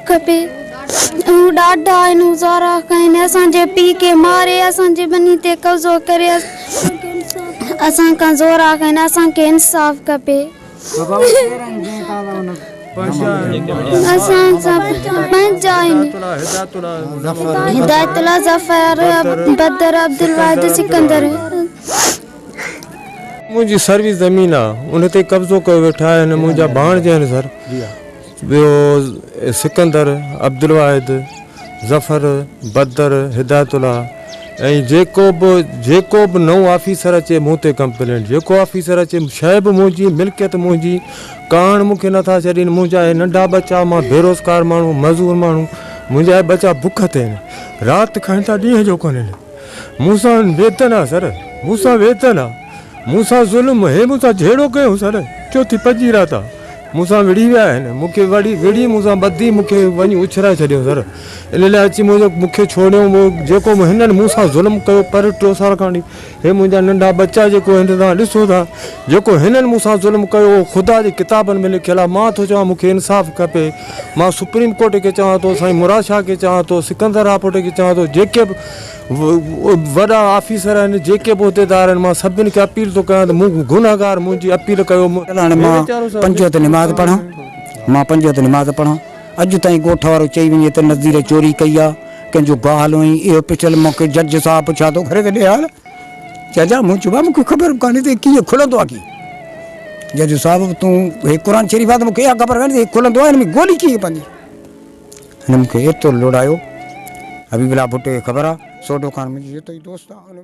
کپي اهو ڏاڍا آهن هو زارا کائين اسان جي پي کي ماري اسان جي ٻني تي قبضو ڪري اسان کان زورا کائين اسان کي انصاف کپي اسان سان پنهنجا آهن هدايت الله ظفر بدر عبدالواحد سڪندر منهنجي سروي زمين آ ان تي قبضو ڪيو ويٺا آهن منهنجا ڀاڻجا آهن سر ٻيو سڪندر عبدالواحد ظفر بدر هدايت الله ۽ جيڪو به جيڪو به نئون آفيسر اچي مون تي ڪمپلينٽ جيڪو آفيسر اچي شي به منهنجي ملڪيت منهنجي ڪاڻ مونکي نٿا ڇڏين منهنجا هي ننڍا ٻچا مان بيروزگار ماڻهو مزور ماڻهو منهنجا هي ٻچا بک تي آهن رات کائين ٿا ڏينهن جو ڪونهن مون سان ويتن آ سر، مون سان ويتن آ، مون سان ظلم هي، مون سان جهيڙو ڪيو سر، ڇو ٿي پڄي رهيا ٿا، مون سان وڙهي ويا آهن، مون کي وڙهي وڙهي مون سان ٻڌي مون کي وڃي اڇلائي ڇڏيو سر، ان لاء اچي منهنجو مون کي ڇوڙيو، جيڪو هنن مون سان ظلم ڪيو پر ٽيو سال کان وٺي هي منهنجا ننڍا ٻچا جيڪو هن توهان ڏسو ٿا، جيڪو هنن مون سان ظلم ڪيو اهو خدا جي ڪتابن ۾ لکيل آ، مان ٿو چوان مون کي انصاف کپي. مان سپريم ڪورٽ کي چوان ٿو، سائين مراد شاهه کي چوان ٿو، سڪندر راپوٽي کي چوان ٿو، جيڪي به وڏا آفيسر آهن، جيڪي به عهديدار آهن، مان سڀني کي اپيل ٿو ڪيان ته مون کي گنهگار منهنجي اپيل ڪيو. هاڻي مان پنج وقت نماز پڙهان، مان پنج وقت نماز پڙهان، اڄ تائين ڳوٺ وارو چئي وڃي ته نذير چوري ڪئي آهي، ڪنهن جو گاهه هليو هئائين، اهو پڇيل مون کي جج صاحب پڇا ٿو ڪري ته ڏي حال. ججا مون چيو مون کي خبر به ڪانهي ته هي ڪيئن کلندو آهي ڪيئن. جج صاحب تون هي قرآن شريف آهي ته مون کي اها خبر ڪانهي ته هي کلندو آهي هن ۾ گولي ڪيئن پوندي. هن مون کي ايترو لوڙايو حبيب الله ڀٽو کي خبر آهي سوڍو خان منهنجو جتوئي دوست آهي.